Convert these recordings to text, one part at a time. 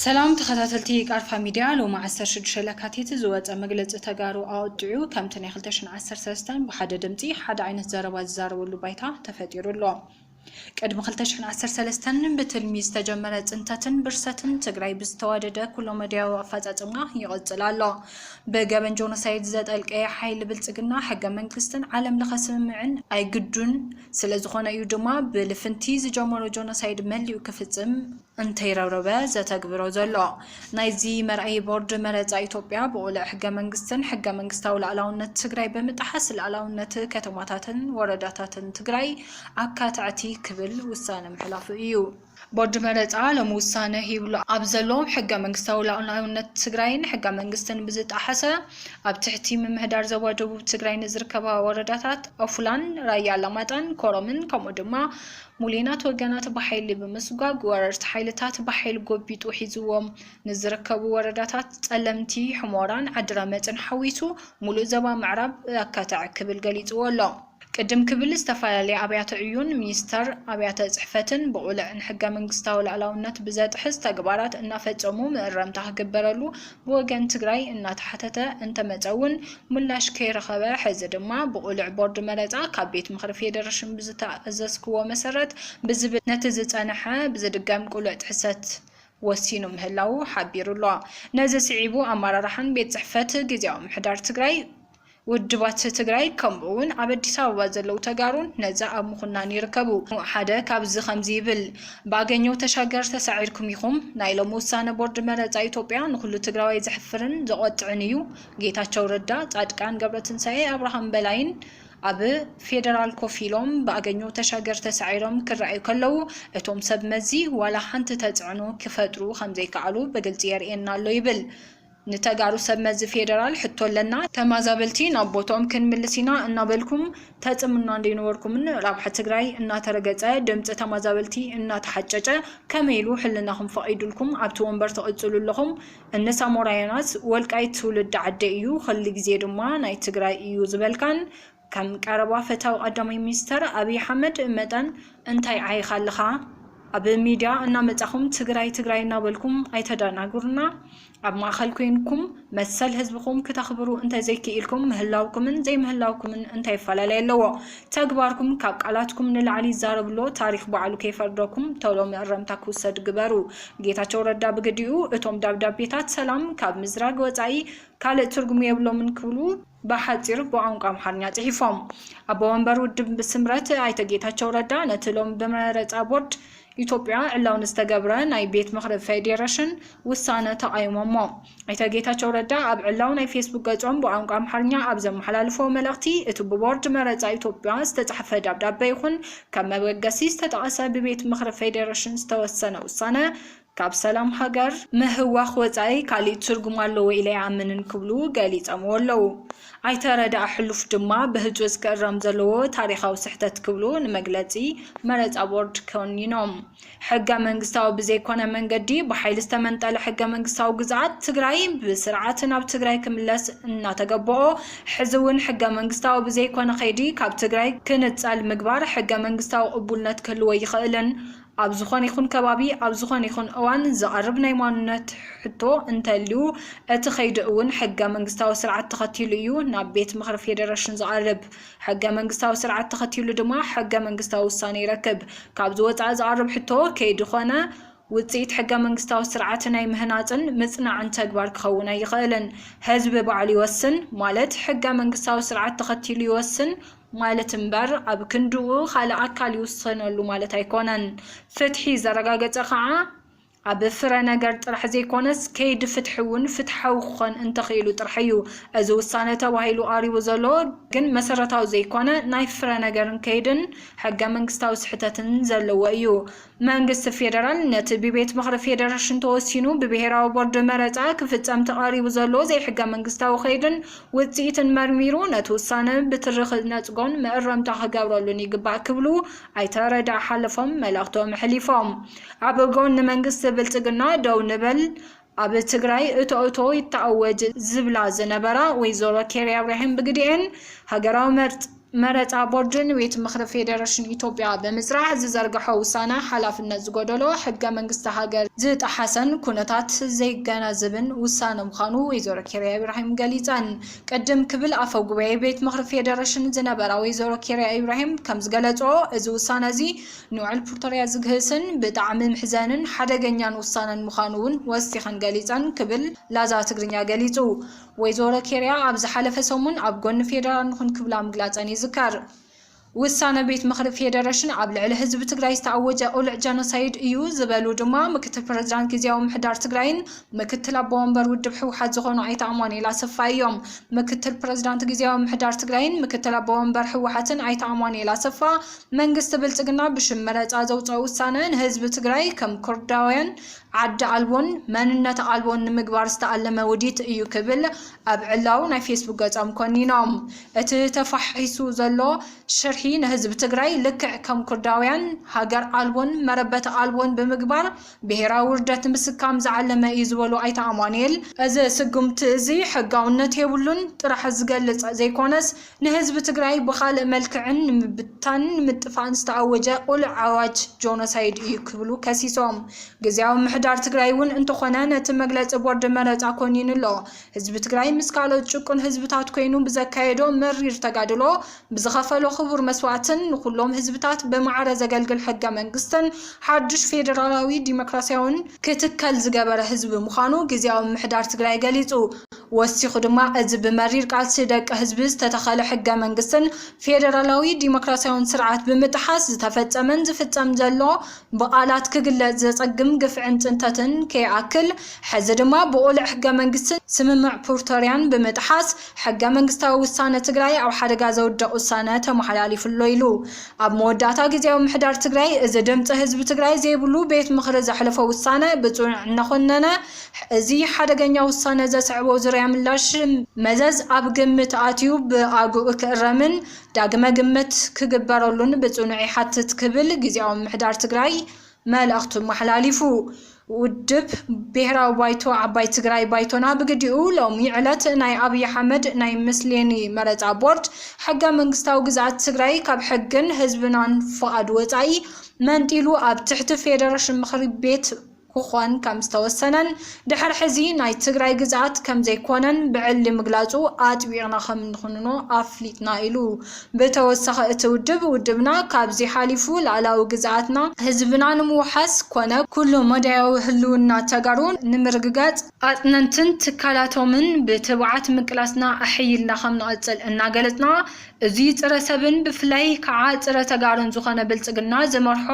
ሰላም ተኸታተልቲ ቃርፋ ሚድያ ሎሚ 16 ለካቲት ዝወፀ መግለፂ ተጋሩ ኣወጥዑ ከምቲ ናይ 2013 ብሓደ ድምፂ ሓደ ዓይነት ዘረባ ዝዛረበሉ ባይታ ተፈጢሩ ኣሎ። ቅድሚ ክልተ ሽሕን ዓሰርተ ሰለስተን ብትልሚ ዝተጀመረ ፅንተትን ብርሰትን ትግራይ ብዝተዋደደ ኩለመዳያዊ ኣፈፃፅማ ይቕፅል ኣሎ። ብገበን ጆኖሳይድ ዘጠልቀየ ሓይሊ ብልፅግና ሕገ መንግስትን ዓለም ለኸ ስምምዕን ኣይግዱን። ስለዝኾነ እዩ ድማ ብልፍንቲ ዝጀመሮ ጆኖሳይድ መሊኡ ክፍፅም። እንተይረብረበ ዘተግብሮ ዘሎ። ናይዚ መርኣዪ ቦርድ መረፃ ኢትዮጵያ ብቑልዕ ሕገ መንግስትን ሕገ መንግስታዊ ላእላውነት ትግራይ ብምጥሓስ ላእላውነት ከተማታትን ወረዳታትን ትግራይ ኣካታዕቲ ክብል ውሳነ ምሕላፉ እዩ። ቦርድ መረፃ ሎሚ ውሳነ ሂብሉ ኣብ ዘሎ ሕገ መንግስታዊ ላእላውነት ትግራይን ሕገ መንግስትን ብዝጣሓሰ ኣብ ትሕቲ ምምሕዳር ዞባ ደቡብ ትግራይ ንዝርከባ ወረዳታት ኦፍላን፣ ራያ ኣላማጣን ኮረምን ከምኡ ድማ ሙሌናት ወገናት ብሓይሊ ብምስጓግ ወረርቲ ሓይልታት ብሓይል ጎቢጡ ሒዝዎም ንዝርከቡ ወረዳታት ፀለምቲ፣ ሑሞራን ዓዲረመፅን ሓዊሱ ሙሉእ ዘባ ምዕራብ ኣካተዐ ክብል ገሊፅዎ ኣሎ። ቅድም ክብል ዝተፈላለያ ኣብያተ ዕዮን ሚኒስተር ኣብያተ ፅሕፈትን ብቑልዕ ንሕገ መንግስታዊ ልኣላውነት ብዘጥሕስ ተግባራት እናፈፀሙ ምእረምታ ክግበረሉ ብወገን ትግራይ እናተሓተተ እንተመፀ እውን ምላሽ ከይረኸበ ሕዚ ድማ ብቕሉዕ ቦርድ መረፃ ካብ ቤት ምኽሪ ፌዴሬሽን ብዝተኣዘዝክዎ መሰረት ብዝብል ነቲ ዝፀንሐ ብዝድገም ቅሉዕ ጥሕሰት ወሲኑ ምህላዉ ሓቢሩ ኣሎ። ነዚ ስዒቡ ኣመራርሓን ቤት ፅሕፈት ጊዚያዊ ምሕዳር ትግራይ ውድባት ትግራይ ከምኡ ውን ኣብ ኣዲስ ኣበባ ዘለው ተጋሩን ነዚ ኣብ ምኹናን ይርከቡ። ሓደ ካብዚ ከምዚ ይብል፣ ብኣገኘው ተሻገር ተሳዒርኩም ኢኹም። ናይ ሎሚ ውሳነ ቦርድ መረፃ ኢትዮጵያ ንኹሉ ትግራዋይ ዘሕፍርን ዘቖጥዕን እዩ። ጌታቸው ረዳ፣ ፃድቃን ገብረትንሳኤ፣ ኣብርሃም በላይን ኣብ ፌደራል ኮፍ ኢሎም ብኣገኘው ተሻገር ተሳዒሮም ክረኣዩ ከለው እቶም ሰብ መዚ ዋላ ሓንቲ ተፅዕኖ ክፈጥሩ ከምዘይከኣሉ ብግልፂ የርእየና ኣሎ ይብል። ንተጋሩ ሰብ መዚ ፌደራል ሕቶ ኣለና። ተማዛበልቲ ናብ ቦትኦም ክንምልስ ኢና እናበልኩም ተጽምኑና እንደይነበርኩምን ራብሓ ትግራይ እናተረገጸ ድምጺ ተማዛበልቲ እናተሓጨጨ ከመይ ኢሉ ሕልናኹም ፈቒዱልኩም ኣብቲ ወንበር ትቕጽሉ ኣለኹም እኒ ሳሞራያናት ወልቃይት ትውልዲ ዓደይ እዩ ኽል ግዜ ድማ ናይ ትግራይ እዩ ዝበልካን ከም ቀረባ ፈታዊ ቀዳማይ ሚኒስተር ኣብይ ኣሕመድ መጠን እንታይ ዓይኻ ኣለኻ? ኣብ ሚድያ እናመፃኹም ትግራይ ትግራይ እናበልኩም ኣይተደናግሩና። ኣብ ማእኸል ኮይንኩም መሰል ህዝብኹም ክተኽብሩ እንተዘይክኢልኩም ምህላውኩምን ዘይምህላውኩምን እንታይ ኣፈላላይ ኣለዎ? ተግባርኩም ካብ ቃላትኩም ንላዕሊ ዛረብሎ ታሪኽ ባዕሉ ከይፈርደኩም ቶሎ መእረምታ ክውሰድ ግበሩ። ጌታቸው ረዳ ብግዲኡ እቶም ደብዳቤታት ሰላም ካብ ምዝራግ ወፃኢ ካልእ ትርጉም የብሎምን ክብሉ ብሓጺሩ ብቋንቋ ኣምሓርኛ ጽሒፎም። ኣቦ ወንበር ውድብ ስምረት ኣይተ ጌታቸው ረዳ ነቲ ሎሚ ብመረፃ ቦርድ ኢትዮጵያ ዕላዊ ንዝተገብረ ናይ ቤት ምኽሪ ፌዴሬሽን ውሳነ ተቓዊሞሞ። ኣይተ ጌታቸው ረዳ ኣብ ዕላዊ ናይ ፌስቡክ ገፆም ብቋንቋ ኣምሓርኛ ኣብ ዘመሓላለፎ መልእኽቲ እቲ ብቦርድ መረፃ ኢትዮጵያ ዝተፃሕፈ ደብዳበ ይኹን ከም መበገሲ ዝተጠቐሰ ብቤት ምኽሪ ፌዴሬሽን ዝተወሰነ ውሳነ ካብ ሰላም ሃገር ምህዋኽ ወፃኢ ካሊእ ትርጉም ኣለዎ ኢለ ኣይኣምንን ክብሉ ገሊፀምዎ ኣለው። ኣይተ ረዳኢ ሕሉፍ ድማ ብህፁፅ ክእረም ዘለዎ ታሪኻዊ ስሕተት ክብሉ ንመግለፂ መረፃ ቦርድ ኮኒኖም። ሕገ መንግስታዊ ብዘይኮነ መንገዲ ብሓይሊ ዝተመንጠለ ሕገ መንግስታዊ ግዝኣት ትግራይ ብስርዓት ናብ ትግራይ ክምለስ እናተገበኦ ሕዚ እውን ሕገ መንግስታዊ ብዘይኮነ ከይዲ ካብ ትግራይ ክንፀል ምግባር ሕገ መንግስታዊ ቅቡልነት ክህልዎ ኣይኽእልን ኣብ ዝኾነ ይኹን ከባቢ ኣብ ዝኾነ ይኹን እዋን ዝቐርብ ናይ ማኑነት ሕቶ እንተልዩ እቲ ከይዲ እውን ሕገ መንግስታዊ ስርዓት ተኸቲሉ እዩ ናብ ቤት ምኽሪ ፌዴሬሽን ዝቐርብ። ሕገ መንግስታዊ ስርዓት ተኸቲሉ ድማ ሕገ መንግስታዊ ውሳነ ይረክብ። ካብዚ ወፃኢ ዝቐርብ ሕቶ ከይዲ ኮነ ውፅኢት ሕገ መንግስታዊ ስርዓት ናይ ምህናፅን ምፅናዕን ተግባር ክኸውን ኣይኽእልን። ህዝቢ ባዕሉ ይወስን ማለት ሕገ መንግስታዊ ስርዓት ተኸቲሉ ይወስን፣ ማለት እምበር ኣብ ክንድኡ ኻልእ ኣካል ይውሰነሉ ማለት ኣይኮነን። ፍትሒ ዘረጋገጸ ኸኣ ኣብ ፍረ ነገር ጥራሕ ዘይኮነስ ከይዲ ፍትሒ እውን ፍትሓዊ ክኾን እንተኽኢሉ ጥራሕ እዩ። እዚ ውሳነ ተባሂሉ ቐሪቡ ዘሎ ግን መሰረታዊ ዘይኮነ ናይ ፍረ ነገርን ከይድን ሕገ መንግስታዊ ስሕተትን ዘለዎ እዩ። መንግስቲ ፌደራል ነቲ ብቤት ምኽሪ ፌደረሽን ተወሲኑ ብብሄራዊ ቦርድ መረፃ ክፍፀም ተቓሪቡ ዘሎ ዘይሕገመንግስታዊ ከይድን ውፅኢትን መርሚሩ ነቲ ውሳነ ብትሪ ክነፅጎን መእረምታ ክገብረሉን ይግባእ ክብሉ ኣይተ ረድኢ ሓለፎም መልእኽቶም ኣሕሊፎም። ኣብ ጎኒ መንግስቲ ብልፅግና ደው ንበል! ኣብ ትግራይ እቶ እቶ ይተኣወጅ ዝብላ ዝነበራ ወይዘሮ ኬርያ እብራሂም ብግዲኤን፣ ሃገራዊ መረፃ ቦርድ ንቤት ምኽሪ ፌዴሬሽን ኢትዮጵያ ብምፅራሕ ዝዘርገሖ ውሳነ ሓላፍነት ዝጎደሎ፣ ሕገ መንግስቲ ሃገር ዝጠሓሰን ኩነታት ዘይገናዘብን ውሳነ ምዃኑ ወይዘሮ ኬርያ ኢብራሂም ገሊፀን። ቅድም ክብል ኣፈ ጉባኤ ቤት ምኽሪ ፌዴሬሽን ዝነበራ ወይዘሮ ኬርያ ኢብራሂም ከምዝገለፅኦ እዚ ውሳነ እዚ ንውዕል ፕርቶርያ ዝግህስን ብጣዕሚ ምሕዘንን ሓደገኛን ውሳነን ምዃኑ እውን ወሲኸን ገሊፀን ክብል ላዛ ትግርኛ ገሊፁ። ወይዘሮ ኬርያ ኣብ ዝሓለፈ ሰሙን ኣብ ጎኒ ፌዴራል ንኹን ክብላ ምግላፀን ይዝከር። ውሳነ ቤት ምኽሪ ፌዴሬሽን ኣብ ልዕሊ ህዝቢ ትግራይ ዝተኣወጀ ቅሉዕ ጀኖሳይድ እዩ ዝበሉ ድማ ምክትል ፕረዚዳንት ጊዜያዊ ምሕዳር ትግራይን ምክትል ኣቦ ወንበር ውድብ ህወሓት ዝኾኑ ኣይተ ኣማኑኤል ኣሰፋ እዮም። ምክትል ፕረዚዳንት ጊዜያዊ ምሕዳር ትግራይን ምክትል ኣቦ ወንበር ህወሓትን ኣይተ ኣማኑኤል ኣሰፋ መንግስቲ ብልፅግና ብሽም መረፃ ዘውፀኦ ውሳነ ንህዝቢ ትግራይ ከም ኩርዳውያን ዓዲ ኣልቦን መንነት ኣልቦን ንምግባር ዝተኣለመ ውዲት እዩ ክብል ኣብ ዕላዊ ናይ ፌስቡክ ገፆም ኮኒኖም። እቲ ተፋሒሱ ዘሎ ሽርሒ ንህዝቢ ትግራይ ልክዕ ከም ኩርዳውያን ሃገር ኣልቦን መረበቲ ኣልቦን ብምግባር ብሄራዊ ውርደት ንምስካም ዝዓለመ እዩ ዝበሉ ኣይተ ኣማኑኤል፣ እዚ ስጉምቲ እዚ ሕጋውነት የብሉን ጥራሕ ዝገልፅ ዘይኮነስ ንህዝቢ ትግራይ ብኻልእ መልክዕን ንምብትታንን ንምጥፋእን ዝተኣወጀ ቁሉዕ ኣዋጅ ጆኖሳይድ እዩ ክብሉ ከሲሶም። ግዝያዊ ምምሕዳር ትግራይ እውን እንተኾነ ነቲ መግለፂ ቦርድ መረፃ ኮኒኑ ኣሎ። ህዝቢ ትግራይ ምስ ካልኦት ጭቁን ህዝብታት ኮይኑ ብዘካየዶ መሪር ተጋድሎ ብዝኸፈሎ ክቡር መስዋእትን ንኹሎም ህዝብታት ብማዕረ ዘገልግል ሕገ መንግስትን ሓዱሽ ፌደራላዊ ዲሞክራሲያውን ክትከል ዝገበረ ህዝቢ ምዃኑ ግዝያዊ ምምሕዳር ትግራይ ገሊፁ። ወሲኹ ድማ፣ እዚ ብመሪር ቃልሲ ደቂ ህዝቢ ዝተተኸለ ሕገ መንግስትን ፌደራላዊ ዲሞክራሲያውን ስርዓት ብምጥሓስ ዝተፈጸመን ዝፍጸም ዘሎ ብቓላት ክግለጽ ዘጸግም ግፍዕን ጽንተትን ከይኣክል ሕዚ ድማ ብቑልዕ ሕገ መንግስትን ስምምዕ ፕርቶርያን ብምጥሓስ ሕገ መንግስታዊ ውሳነ ትግራይ ኣብ ሓደጋ ዘውድቕ ውሳነ ተመሓላሊፉ'ሎ ኢሉ። ኣብ መወዳእታ ግዝያዊ ምሕዳር ትግራይ እዚ ድምጺ ህዝቢ ትግራይ ዘይብሉ ቤት ምኽሪ ዘሕለፎ ውሳነ ብጽኑዕ እናኾነነ እዚ ሓደገኛ ውሳነ ዘስዐቦ ዙርያ ምላሽ መዘዝ ኣብ ግምት ኣትዩ ብኣግኡ ክእረምን ዳግመ ግምት ክግበረሉን ብፅኑዕ ይሓትት ክብል ጊዜያዊ ምምሕዳር ትግራይ መልእኽቱ ኣመሓላሊፉ። ውድብ ብሄራዊ ባይቶ ዓባይ ትግራይ ባይቶና ብግዲኡ ሎሚ ዕለት ናይ ኣብይ ኣሕመድ ናይ ምስሌኒ መረፃ ቦርድ ሕገ መንግስታዊ ግዝኣት ትግራይ ካብ ሕግን ህዝብናን ፍቓድ ወፃኢ መንጢሉ ኣብ ትሕቲ ፌደረሽን ምኽሪ ቤት ክኾን ከምዝተወሰነን ድሕር ሕዚ ናይ ትግራይ ግዝኣት ከምዘይኮነን ብዕሊ ምግላፁ ኣጥቢቕና ከምንኹንኖ ኣፍሊጥና ኢሉ። ብተወሳኺ እቲ ውድብ ውድብና ካብዚ ሓሊፉ ላእላዊ ግዝኣትና፣ ህዝብና ንምውሓስ ኮነ ኩሉ መዳያዊ ህልውና ተጋሩ ንምርግጋፅ፣ ኣፅነንትን ትካላቶምን ብትብዓት ምቅላስና ኣሐይልና ከምንቕፅል እናገለፅና እዙይ ፅረ ሰብን ብፍላይ ከዓ ፅረ ተጋሩን ዝኾነ ብልፅግና ዝመርሖ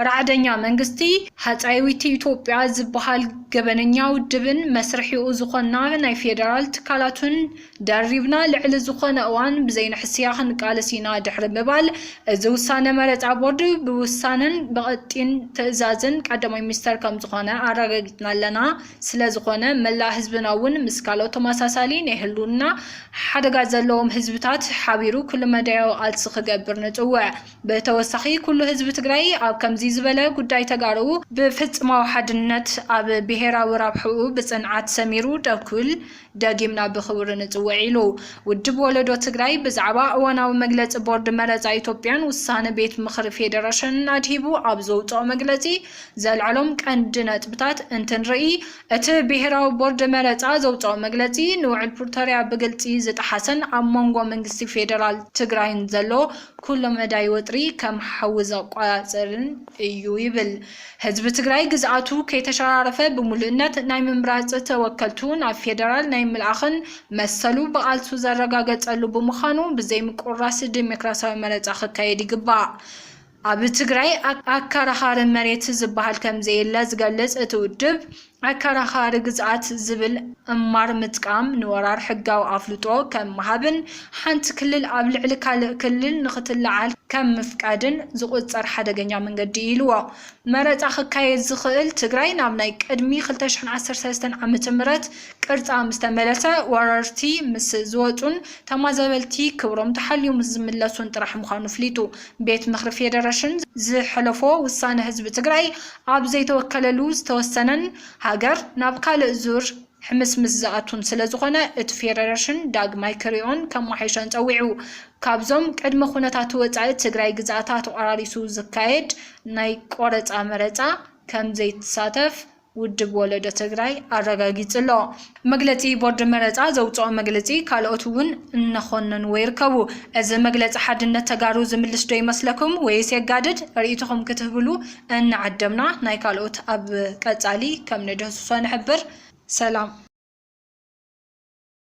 ራዕደኛ መንግስቲ ሃጻይዊቲ ኢትዮጵያ ዝበሃል ገበነኛ ውድብን መስርሒኡ ዝኾና ናይ ፌደራል ትካላቱን ደሪብና ልዕሊ ዝኾነ እዋን ብዘይንሕስያ ክንቃለስ ኢና ድሕሪ ምባል እዚ ውሳነ መረጻ ቦርድ ብውሳነን ብቐጢን ትእዛዝን ቀዳማይ ሚኒስተር ከምዝኾነ ኣረጋጊጽና ኣለና። ስለዝኾነ መላእ ህዝብና እውን ምስ ካልኦት ተመሳሳሊ ናይ ህልውና ሓደጋ ዘለዎም ህዝብታት ሓቢሩ ኩለመዳያዊ ቃልሲ ክገብር ንጽውዕ። ብተወሳኺ ኩሉ ህዝቢ ትግራይ ኣብ ከምዚ ዝበለ ጉዳይ ተጋሩ ብፍፅማዊ ሓድነት ኣብ ብሄራዊ ራብሕኡ ብፅንዓት ሰሚሩ ደው ክብል ደጊምና ብኽብሪ ንፅውዕ ኢሉ ውድብ ወለዶ ትግራይ ብዛዕባ እዋናዊ መግለፂ ቦርድ መረፃ ኢትዮጵያን ውሳነ ቤት ምኽሪ ፌደረሽንን ኣድሂቡ ኣብ ዘውፅኦ መግለፂ ዘልዐሎም ቀንዲ ነጥብታት እንትንርኢ እቲ ብሄራዊ ቦርድ መረፃ ዘውፅኦ መግለፂ ንውዕል ፕሪቶርያ ብግልፂ ዝጠሓሰን ኣብ መንጎ መንግስቲ ፌደራል ትግራይን ዘሎ ኩሎ መዳይ ወጥሪ ከም ሓዊ ዘቋፅርን እዩ ይብል። ህዝቢ ትግራይ ግዝኣቱ ከይተሸራረፈ ብሙሉእነት ናይ ምምራፅ ተወከልቱ ናብ ፌደራል ናይ ምልኣኽን መሰሉ ብቓልሱ ዘረጋገፀሉ ብምዃኑ ብዘይምቁርራስ ዴሞክራሲያዊ መረፃ ክካየድ ይግባእ። ኣብ ትግራይ ኣከራኻሪ መሬት ዝበሃል ከምዘየለ ዝገልፅ እቲ ውድብ፣ ኣከራኻሪ ግዝኣት ዝብል እማር ምጥቃም ንወራር ሕጋዊ ኣፍልጦ ከም ምሃብን ሓንቲ ክልል ኣብ ልዕሊ ካልእ ክልል ንኽትለዓል ከም ምፍቃድን ዝቑጸር ሓደገኛ መንገዲ እዩ ኢልዎ። መረጻ ክካየድ ዝኽእል ትግራይ ናብ ናይ ቅድሚ ክልተ ሽሕን ዓሰርተ ሰለስተን ዓመተ ምህረት ቅርጻ ምስ ተመለሰ ወረርቲ ምስ ዝወጹን ተማዛበልቲ ክብሮም ተሓልዩ ምስ ዝምለሱን ጥራሕ ምዃኑ ኣፍሊጡ። ቤት ምኽሪ ፌዴሬሽን ዝሐለፎ ውሳነ ህዝቢ ትግራይ ኣብ ዘይተወከለሉ ዝተወሰነን ሃገር ናብ ካልእ ዙር ሕምስምስ ዝኣቱን ስለዝኾነ እቲ ፌዴሬሽን ዳግማይ ክሪኦን ከማሐይሾን ፀዊዑ። ካብዞም ቅድመ ኩነታቱ ወፃኢ ትግራይ ግዝኣታ ተቆራሪሱ ዝካየድ ናይ ቆረፃ መረፃ ከምዘይትሳተፍ ውድብ ወለዶ ትግራይ ኣረጋጊፁ ኣሎ። መግለፂ ቦርድ መረፃ ዘውፀኦ መግልፂ ካልኦት እውን እናኾነንዎ ይርከቡ። እዚ መግለፂ ሓድነት ተጋሩ ዝምልስ ዶ ይመስለኩም ወይስ የጋድድ? ርኢቶኹም ክትህብሉ እናዓደምና ናይ ካልኦት ኣብ ቀፃሊ ከም ንድህስሶ ንሕብር። ሰላም!